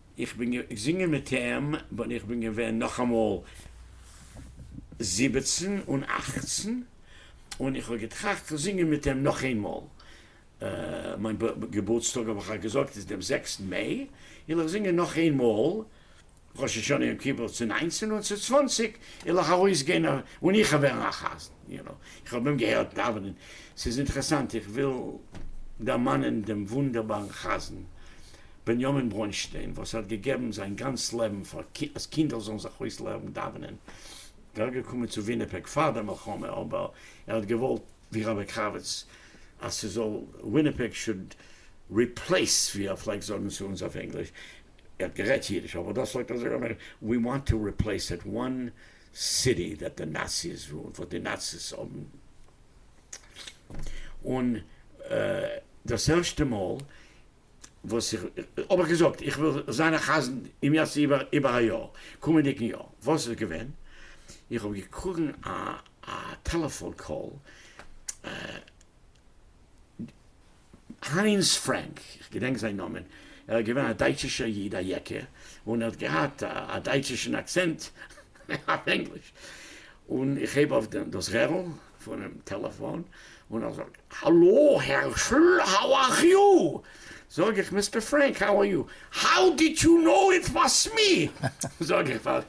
C: איך בין געזינגען מיט אים ווען איך בין געווען נאכאמאל זיבעצן און אכצן, און איך האב געטראכט צו זינגען מיט אים נאך איינמאל. מיין געבורטסטאג האב איך געזאגט איז דעם זעקסטן מעי, און איך זינגען נאך איינמאל ראש השנה יום כיפור צו ניינצן און צו צוואנציג עלעך ארויסגיין און איך ווערן א חזן. איך האב אים געהערט דאווענען, ס'איז אינטערעסאנט, איך וויל דערמאנען דעם וואונדערבארן חזן בנימין ברוינשטיין וואס האט געגעבן זיין גאנץ לעבן פאר אז קינדער זאלן זיך אויסלערנען דאווענען, ער איז געקומען צו וויניפעג פאר דער מלחמה אבער ער האט געוואלט ווי רבי קרביץ אז ס'זאל וויניפעג שוד ריפלעיס ווי ער פלעגט זאגן צו אונז אויף ענגליש, ער האט גערעדט אידיש אבער דאס האט ער זיך געמערקט, ווי וואנט טו ריפלעיס איט וואן סיטי דארט די נאציס וואו וואס די נאציס האבן און דאס ערשטע מאל וואס איך האב איך געזאגט איך וויל זיין א חזן אם ירצה איבער א יאר קומענדיגן יאר וואס איז געווען איך האב געקראגן א טעלעפאן קאל. היינס פרענק, איך געדענק זיין נאמען, ער איז געווען א דייטשישער איד א יעקע, און ער האט געהאט א דייטשישן אקצענט אויף ענגליש, און איך הייב אויף דאס רערל פונעם טעלעפאן, און ער זאגט, האלא הערשל, האו אר יו? זאג איך, מיסטער פרענק, האו אר יו? האו דיד יו קנאו איט וואס מי? זאג איך, ווייל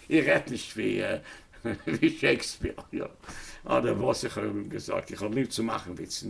C: איך רעדט נישט ווי שייקספיר, אדער וואס איך האב אים געזאגט, איך האב ליב צו מאכן וויצן.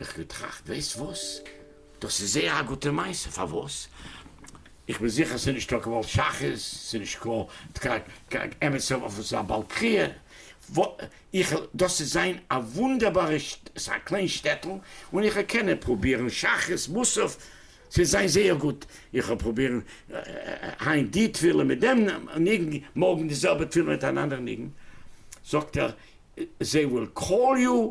C: איך געטראכט, ווייסט וואס? דאס איז זייער א גוטע מעשה, פארוואס? איך בין זיכער ס'איז נישט טאקע ווייל שחרית, ס'איז נישט קיין אמת'ע ווארט פון זיין בעל קריאה, איך, דאס איז זיין א וואונדערבארע, ס'איז א קליין שטעטל, און איך וועל קענען פרובירן שחרית, מוסף, ס'וועט זיין זייער גוט, איך וועל פרובירן היינט די תפילה מיט דעם ניגון, מארגן די זעלבע תפילה מיט אן אנדערע ניגון, זאגט ער, זיי וויל קאל יו,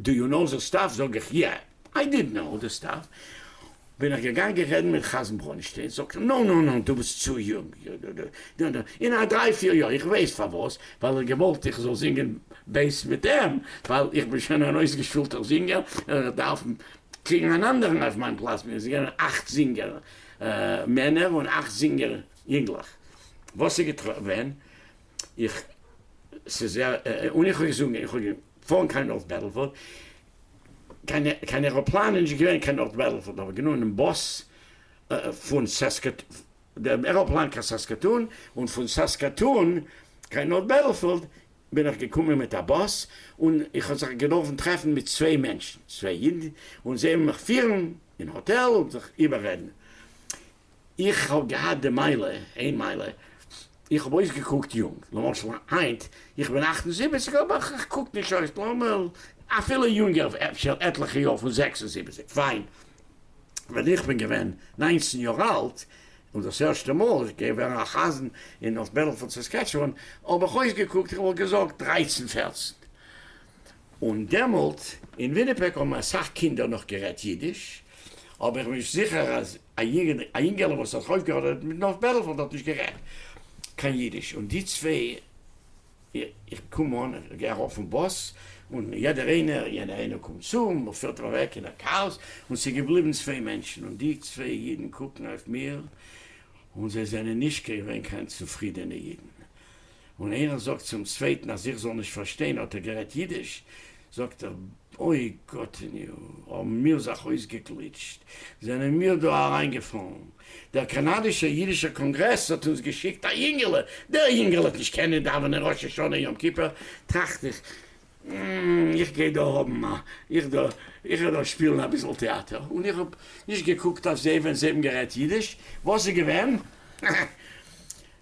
C: דו יו נאו זיס סטאף? זאג איך יא, איי דיד נאו דיס סטאף, בין איך געגאנגען רעדן מיט חזן ברוינשטיין, זאגט ער נאו נאו נאו דו ביסט צו יונג, אין א דריי פיר יאר, איך ווייס פארוואס, ווייל ער האט געוואלט איך זאל זינגען בעיס מיט אים, ווייל איך בין שוין אן אויסגעשולטער זינגער, און איך דארף קריגן אן אנדערן אויף מיין פלאץ, מיר זענען אכט זינגער מענער און אכט זינגער יונגלעך, וואס איז געווען? איך, ס'איז ער, און איך האב געזונגען, איך האב. פארן קיין נארט בעטלפארד, קיין עראפלאן איז נישט געווען קיין נארט בעטלפארד, האב איך גענומען באס פון סעסקעטאן, עראפלאן קיין סעסקעטאן, און פון סעסקעטאן קיין נארט בעטלפארד בין איך געקומען מיט א באס, און איך האב זיך געדארפן טרעפן מיט צוויי מענטשן, צוויי אידן, און זיי האבן מיך פירן אין האטעל און זיך איבעררעדן, איך האב געהאט די מעלה, איין מעלה, איך האב אויסגעקוקט יונג, למשל היינט, איך בין אַכט און זיבעציק אבער איך קוק נישט אויס נארמאל, אפילו יונגער אפשר עטליכע יאר פון זעקס און זיבעציק, פיין, ווען איך בין געווען ניינצן יאר אלט און דאס ערשטע מאל איז געווען א חזן אין אויף בעלעפאלד סעסקעטשואן האב איך אויסגעקוקט איך וואלט געזאגט דרייצן פערצן, און דעמאלט אין וויניפעג האבן אסאך קינדער נאך גערעדט אידיש, האב איך נישט זיכער אז. א יגד, א יונגעלע וואס האט אויפגעהאדעוועט מיט נוף בערל פאר דארט נישט גערעדט קיין אידיש, און די צוויי, איך קום אן, איך גיי ארויף פון באס, און יעדער איינער, יענער איינער קומט צו, און מען פירט אים אוועק אין א כאאס, און ס'איז געבליבן צוויי מענטשן, און די צוויי אידן קוקן אויף מיר, און זיי זענען נישט געווען קיין צופרידענע אידן, און ערען זאגט צום צווייטן אז איך זאל נישט פארשטיין האט ער גערעדט אידיש, זאגט ער אוי גאטעניו האבן מיר זיך אויסגעגליטשט, זענען מיר דא אריין געפאלן, דער קאנאדישער אידישער קאנגרעס האט אונז געשיקט א יונגעלע, דער יונגעלע האט נישט קענען דאווענען ראש השנה יום כיפור, טראכט איך אםמ איך גיי דא האבן א איך דא איך וועל דא שפילן אביסל טעאטער, און איך האב נישט געקוקט אויף זיי ווען זיי האבן גערעדט אידיש, וואס איז געווען?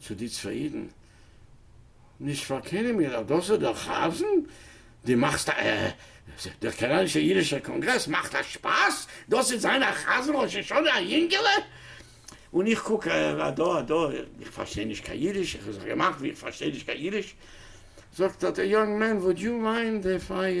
C: צו די צוויי אידן, נישט פארקענען מיר אז דאס איז דער חזן? די מאכסט א דער קאנאדישע אידישער קאנגרעס מאכט א שפאס? דאס איז זיין א חזן ראש השנה א יונגעלע? און איך קוק אדא אדא איך פארשטיי נישט קיין אידיש, איך האב זיך געמאכט ווי איך פארשטיי נישט קיין אידיש, זאגט ער די יונג מען וואד יו מיינד איף איי.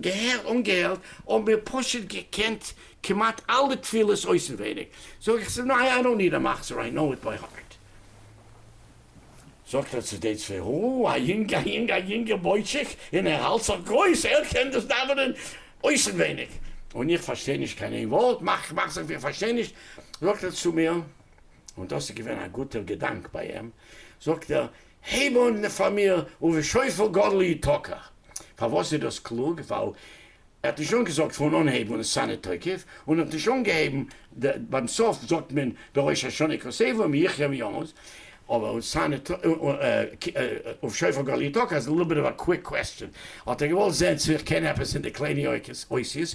C: געהער אנגעהערט, האבן מיר פשוט געקענט כמעט אלע תפילות אויסנווייניג, זאג איך צו אים, איי דאנט ניד א מחזור, איי קנאו איט ביי הארט. זאגט ער צו די צוויי, הו, א יונג, א יונג, א יונגער בויטשיק, און ער האלט זיך גרויס, ער קען דאס דאווענען אויסנווייניג, און איך פארשטיי נישט קיין איין ווארט, מאך מאך זיך ווי איך פארשטיי נישט, זאגט ער צו מיר, און דאס איז געווען א גוטער געדאנק ביי אים, זאגט ער, הייב אן די פאר מיר, ובשופר גדול יתקח. פארוואס איז דאס קלוג? ווייל ער האט נישט אנגעזאגט פון אנהייב און עס סאנע תוקף, און ער האט נישט אנגעהייבן די, ביים סוף זאגט מען די ראש השנה כסעיפו מי יחיה מי ימות, אבער און סאנע ובשופר גדול יתקח איז ליטל ביט אוו א קוויק קוועסטשען, האט ער געוואלט זעהן צו איך קען עפעס אין די קליינע אותיות,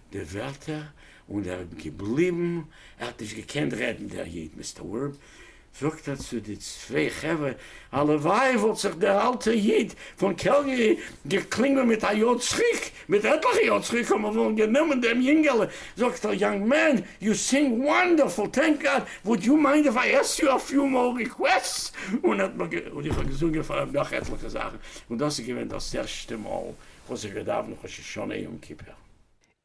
C: די ווערטער און ער איז געבליבן, ער האט נישט געקענט רעדן דער איד, מסתמא זאגט ער צו די צוויי חברה, הלוואי וואלט זיך דער אלטער איד פון קעלגערי געקלינגען מיט א יאר צוריק, מיט עטליכע יאר צוריק האט מען וואלט גענומען דעם יונגעלע, זאגט ער, יאנג מען, יו סינג וואנדערפול, טענק גאד, וואוד יו מיינד איף איי עסק יו א פיו מאר ריקוועסטס, און איך האב געזונגען פאר אים נאך עטליכע זאכן, און דאס איז געווען דאס ערשטע מאל וואס איך האב געדאוונט ראש השנה יום כיפור.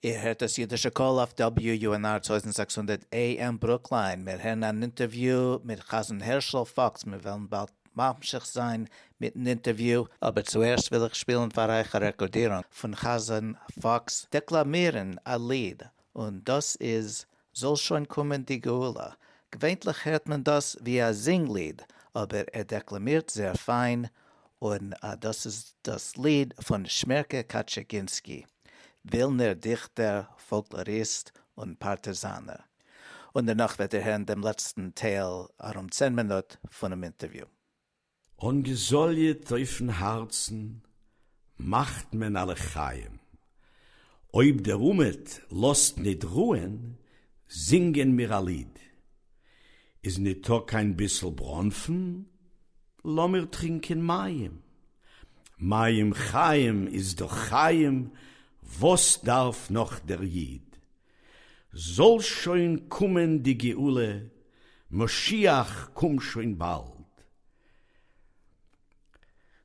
C: איר הערט דאס
B: אידישע קול אויף WUNR טויזנט זעקס הונדערט AM ברוקליין, מיר הערן אן אינטערוויו מיט חזן הערשל פאקס, מיר וועלן באלד ממשיך זיין מיטן אינטערוויו, אבער צוערשט וויל איך שפילן פאר אייך א רעקארדירונג פון חזן פאקס דעקלאמירן א ליד, און דאס איז זאל שוין קומען די גאולה. געווענטליך הערט מען דאס ווי א זינג ליד, אבער ער דעקלאמירט זעהר פיין, און דאס איז דאס ליד פון שמערקע קאטשעגינסקי, ווילנער דיכטער, פאלקלאריסט, און פארטעזאנער. און דערנאך וועט איר הערן דעם לעצטן טייל, ארום צען מינוט, פונעם אינטערוויו. און
C: געזאליעט אויפן הארצן מאכט מען א לחיים, אויב דער אומעט לאזט ניט רוען זינגען מיר א ליד, איז ניטא קיין ביסל בראנפן לאמיר טרינקען מים, מים חיים איז דאך חיים וואס דארף נאך דער איד, זאל שוין קומען די גאולה, משיח קום שוין באלד.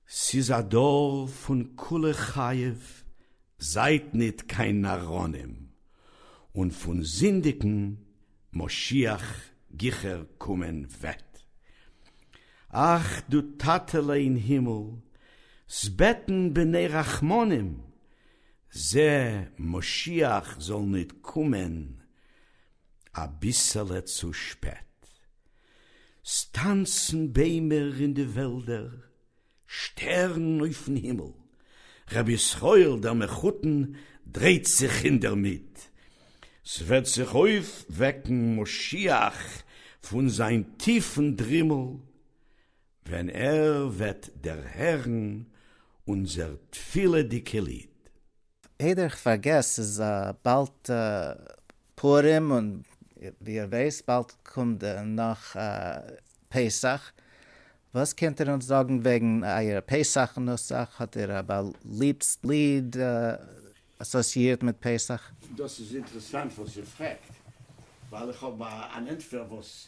C: ס'איז א דור פון כולא חייב, זייט ניט קיין נאראנים, און פון זינדיגן, משיח גיכער קומען וועט. אך דו טאטעלע אין הימל, ס'בעטן בני רחמנים, זע, משיח זאל ניט קומען א ביסעלע צו שפעט. ס'טאנצן ביימער אין די וועלדער, שטערן אויפן הימל, רבי ישראל דער מחותן דרייט זיך אינדערמיט. ס'וועט זיך אויפוועקן משיח פון זיין טיפן דרימל. ווען ער וועט דערהערן אונזער תפילה'דיגע ליד. איידער איך
F: פארגעס, ס'איז באלד פורים און ווי איר ווייסט באלד קומט נאך פסח, וואס קענט איר אונז זאגן וועגן אייער פסח נוסח? האט איר א באליבסט ליד אסאסיאירט מיט פסח? דאס איז אינטערעסאנט
C: וואס איר פרעגט, ווייל איך האב אן ענטפער וואס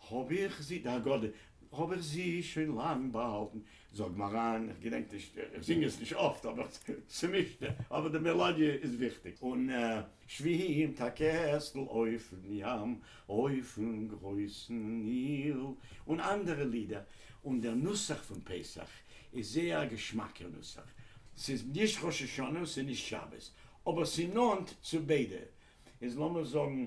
C: האָב איך זי, די הגדה, האָב איך זי שוין לאַנג באַהאַלטן. זאָג מיר אײַן, איך געדענק נישט, איך זינג עס נישט אָפֿט, אָבער ס'מישט, אָבער די מעלאָדיע איז וויכטיק. און שווים טאַ קעסטל אויפֿן ים, אויפֿן גרויסן ניל, און אַנדערע לידער. און דער נוסח פֿון פּסח איז זייער אַ געשמאַקער נוסח. ס'איז נישט ראש-השנה און ס'איז נישט שבת, אָבער ס'איז נאָענט צו ביידע. איז לאָמיר זאָגן.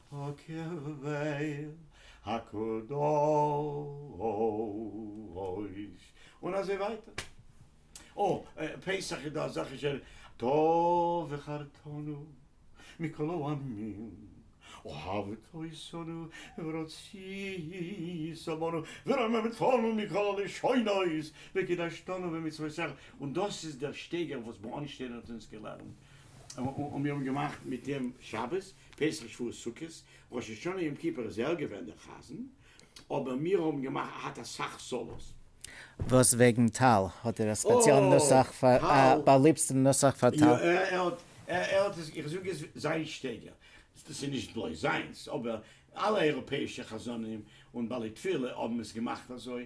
C: הקרביה הקדוש, און אזוי ווייטער. אה, פסח איז דא אזעלכע ש ר, טוב וחרתנו מכל העמים, אהבת עשנו ורצית עמנו, ורוממתנו מכל הלשונות, וקידשתנו במצוותיך, און דאס איז דער שטייגער וואס בארנשטיין האט אונז געלערנט, און מיר האבן געמאכט מיט אים שבת, פסח שבועות סוכות ראש השנה יום כיפור איז ער געווען דער חזן, אבער מיר האבן געמאכט האט אסאך סאלאס. וואס
F: וועגן טל? האט ער א ספעציעלן נוסח פאר א באליבסטן נוסח פאר טל? יא ער האט, ער
C: האט עס, איך זאג עס זיין שטייגער, דאס איז נישט בלויז זיינס, אבער אלע אייראפעאישע חזנים און בעלי תפילה האבן עס געמאכט אזוי,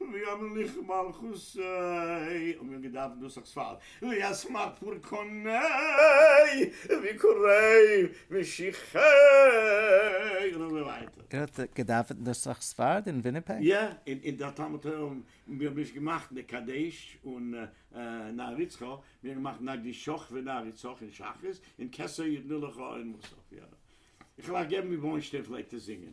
C: ויאמר לך מלכות ה', האבן מיר געדארפט נוסח ספרד, וישמח פורקני ויקרי משיחי, און אזוי ווייטער. איר האט געדאווענט
F: נוסח ספרד אין וויניפעג? יא, אין דער
C: תלמוד תורה האבן מיר האבן נישט געמאכט נר קדיש און נר יצחק, מיר האבן געמאכט נר גישוך ונר יצחק אין שחרית, און כסא יתנו לך אין מוסף, יא. איך וועל אייך געבן ווי ברוינשטיין פלעגט עס זינגען.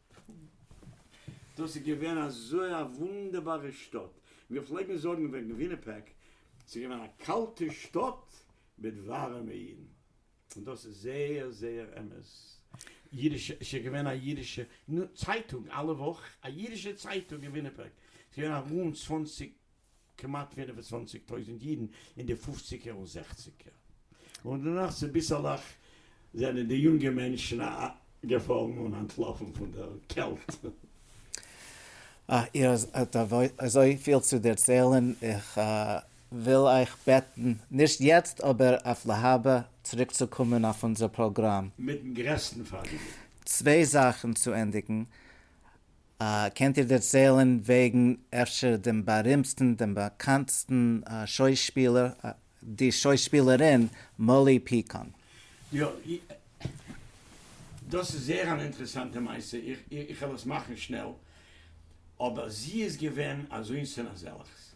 C: דאס איז געווען אזוי א וואונדערבארע שטאט, מיר פלעגן זאגן וועגן וויניפעג, ס'איז געווען א קאלטע שטאט מיט ווארעמע אידן, און דאס איז זייער זייער אמת. אידישע, ס'איז געווען א אידישע צייטונג אלע וואך, א אידישע צייטונג אין וויניפעג, ס'איז געווען ארום צוואנציג כמעט פֿינף און צוואַנציק טויזענט אידן אין די פופציגער און זעכציגער און דערנאך צוביסעלעך זענען די יונגע מענטשן א געפארן און אנטלאפן פון דער קעלט.
F: אה, איר האט אזויפיל צו דערציילן, איך וויל אייך בעטן, נישט יעצט אבער אויף להבא, צוריקצוקומען אויף אונזער פראגראם. מיטן גרעסטן
C: פארגעניגן. צוויי
F: זאכן צו ענדיגן, קענט איר דערציילן וועגן אפשר דעם בארימטסטן דעם באקאנטסטן שוישפילער די שוישפילערין מאלי פיקאן? יא,
C: דאס איז זייער אן אינטערעסאנטע מעשה, איך וועל עס מאכן שנעל, אבער זי איז געווען אזוינס און אזעלעכס,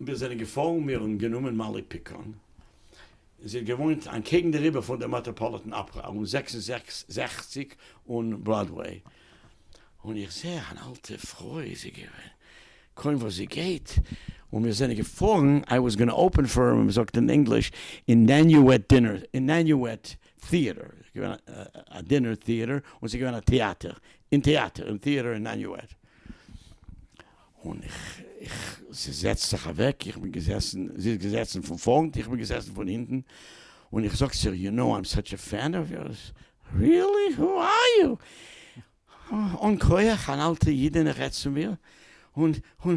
C: מיר זענען געפארן, מיר האבן גענומען מאלי פיקאן, זי האט געוואוינט אנטקעגן די ריווער פון די מעטראפאליטען אפערא און זעקס און זעכציק און בראדוועי, און איך זע אן אלטע פרוי איז זי געווען, קוים וואס זי גייט, און מיר זענען געפארן, איי וואס גאנא אפען פאר ווי מען זאגט אין ענגליש, אינעניועט דינער, אינעניועט טיעטער, ס'איז געווען א דינער טיעטער, און ס'איז געווען א טעאטער, אין טעאטער, אין טיעטער אינעניועט. און איך, איך, זי זעצט זיך אוועק, איך בין געזעסן, זי איז געזעצן פון פארנט, איך בין געזעסן פון הינטן, און איך זאג צו איר, יו נאו איים סאטש א פען אוו יורס, ריעלי? הו אר יו? אן כח, אן אלטע אידענע רעדט צו מיר, און, און,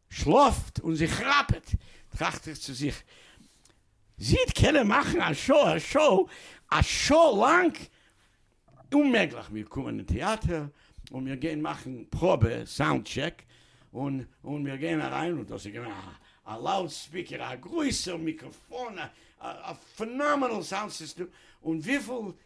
C: שלאָפֿט און זי כראַפּעט, טראַכט איך צו זיך, זי װעט קענען מאַכן אַ שאָ, אַ שאָ, אַ שאָ לאַנג? אוממעגלעך! מיר קומען אין טעאַטער און מיר גײען מאַכן פּראָבע, סאַונד-טשעק, און, און מיר גײען אַרײַן, און דאָס איז געװען אַ, אַ לאַוּד-ספּיקער, אַ גרױסער מיקראָפֿאָן, אַ, אַ פֿענאָמענעל סאַונד-סיסטעם, און װיפֿל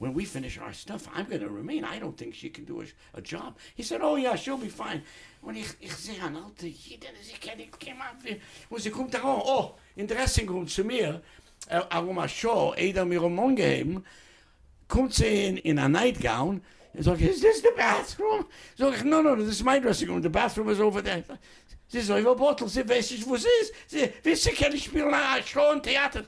C: ווען ווי פיניש אר סטאף איים גאנא רימעין, איי דאנט טינק שי קען דא א דזשאב, הי סעד אוי יא שיל בי פיין, און איך איך זעה אן אלטע אידענע זי קען ניט כמעט ווי, און זי קומט ארוין אוי אין דרעסינג רום צו מיר, ארום א שעה איידער מיר האבן אנגעהויבן קומט זי אין אין א נייט גאון, און זאגט איז דאס די בעט רום, זאג איך נא נא נא דאס איז מיין דרעסינג רום די בעט רום איז אויווער דער, זי איז אויווער באטל זי ווייסט נישט וואס זי איז, זי וויסט זי קען נישט שפילן א שעה אין טעאטער,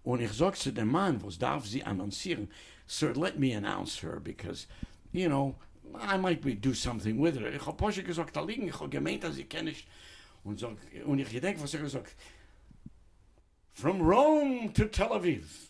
C: און איך זאג צו דעם מאן וואס דארף זי אנאנסירן, סאו לעט מי אנאונס הער ביקאז יו נאו איי מייט בי דו סאמטינג וויט הער, איך האב פשוט געזאגט א ליגן, איך האב געמיינט אז זי קען נישט, און זאג, און איך געדענק וואס איך האב געזאגט, פראם ראום טו תל אביב,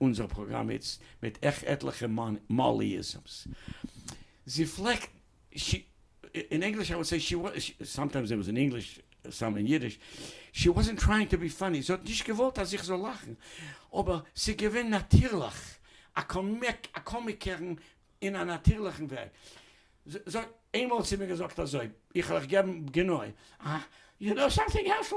C: אונזער פראגראם איצט מיט עכ עטליכע מאליזמס. זי פלעגט, שי, אין ענגליש איי וויל סעי שי וואס, סאמטיימס דער איז אין ענגליש סאם אין אידיש, שי וואזענט טרייענג טו בי פאני, זי האט נישט געוואלט אז איך זאל לאכן, אבער ס'איז געווען נאטירליך, א קאמיק, א קאמיקערן אין א נאטירליכן וועג. זי האט איינמאל צו מיר געזאגט אזוי, איך וועל אייך געבן גענוי, אה, יו נאו סאמטינג הערשל?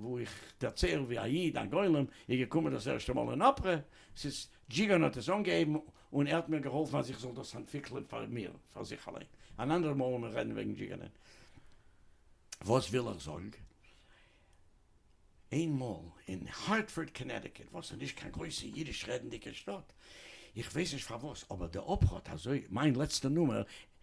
C: וואו איך דערצייל ווי א איד א גולם איז געקומען דאס ערשטע מאל אין אפרע סיס, דזשיגאן האט עס אנגעהויבן און ער האט מיר געהאלפן אז איך זאל דאס אנטוויקלען פאר מיר פאר זיך אליין, אן אנדערע מאל וועל מען רעדן וועגן דזשיגאנען. וואס וויל איך זאגן, איינמאל אין הארטפארד קאנעטיקעט וואס איז נישט קיין גרויסע אידיש רעדנדיגע שטאט, איך ווייס נישט פארוואס אבער די אפרע האט אזוי, מיין לעצטע נומער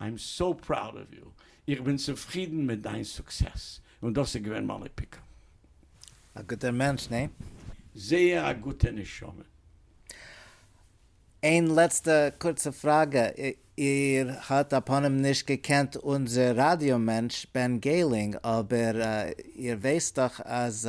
C: איים סאו פראוד אוו יו, איך בין צופרידן מיט דיין סוקסעס, און דאס איז געווען מיין איפיקה. א
F: גוטער מענטש, ניין? זייער א
C: גוטע נשמה. איין
F: לעצטע קורצע פראגע, איר האט א פנים נישט געקענט אונזער ראדיא מענטש בען געלינג, אבער איר ווייסט דאך אז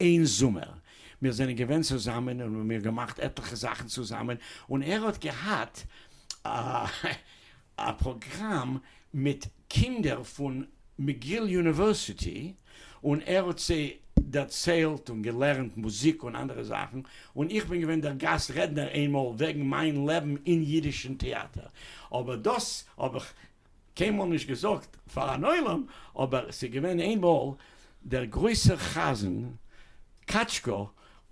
C: אין זומער, מיר זענען געווען צוזאמען און מיר געמאכט עטליכע זאכן צוזאמען, און ער האט געהאט א פראגראם מיט קינדער פון מגיל יוניווערסיטי, און ער האט זיי דערציילט און געלערנט מוזיק און אנדערע זאכן, און איך בין געווען דער גאסט רעדנער איינמאל וועגן מיין לעבן אין אידישן טעאטער, אבער דאס האב איך קיינמאל נישט געזאגט פאר אן עולם, אבער ס'איז געווען איינמאל דער גרויסער חזן קאטשקא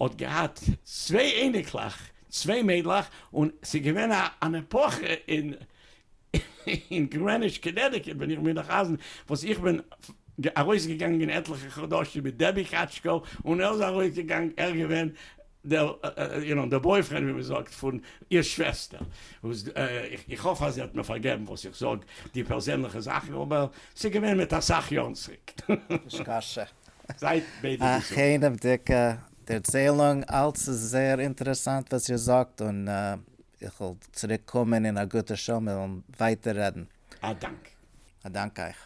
C: האט געהאט צוויי אייניקלעך, צוויי מיידלעך, און ס'איז געווען אן עפאכע אין גרעניטש קאנעטיקעט ווען איך בין דער חזן, וואס איך בין ארויסגעגאנגען עטליכע חדשים מיט דעבי קאטשקא און ער איז ארויסגעגאנגען, ער איז געווען. דער, יו נאו, דער בויפרענד ווי מען זאגט פון איר שוועסטער, וואס איך האף אז זי האט מיר פארגעבן וואס איך זאג די פערזענליכע זאכן, אבער ס'איז געווען מיט אסאך יארן צוריק. נישקשה.
F: זייט
C: ביידע א געזונט. כענעוודיגע
F: דערציילונג, אלץ איז זייער אינטערעסאנט וואס איר זאגט, און איך וועל צוריק קומען אין א גוטע שעה, מיר וועלן ווייטער רעדן. א דאנק. א דאנק אייך.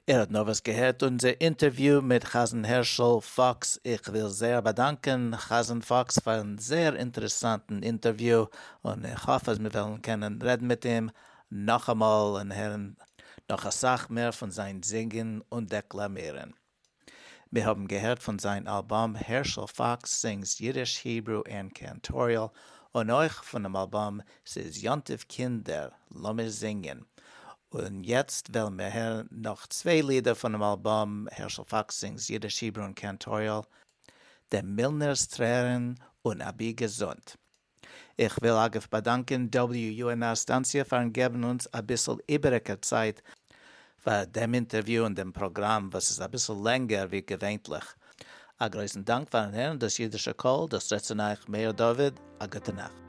F: איר
B: האט נארוואס געהערט אונזער אינטערוויו מיט חזן הערשל פאקס, איך וויל זייער באדאנקען חזן פאקס פארן זייער אינטערעסאנטן אינטערוויו, און איך האף אז מיר וועלן קענען רעדן מיט אים נאכאמאל און הערן נאך אסאך מער פון זיין זינגען און דעקלאמירן. מיר האבן געהערט פון זיין אלבום הערשל פאקס סינגס אידיש, היברו ענד קענטאריעל, און אויך פונעם אלבום ס'איז יאנטעוו קינדער לאמיר זינגען, און יעצט וועלן מיר הערן נאך צוויי לידער פונעם אלבום הערשל פאקס סינגס אידיש, היברו ענד קענטאריעל, דעם מילנער'ס טרערן און אבי געזונט. איך וויל אגב באדאנקען WUNR סטאנציע פארן געבן אונז אביסל איבעריגע צייט פאר דעם אינטערוויו און דעם פראגראם וואס איז אביסל לענגער ווי געווענטליך. א גרויסן דאנק פארן הערן דאס אידישע קול, דאס רעדט צו נייעך מאיר דוד, א גוטע נאכט.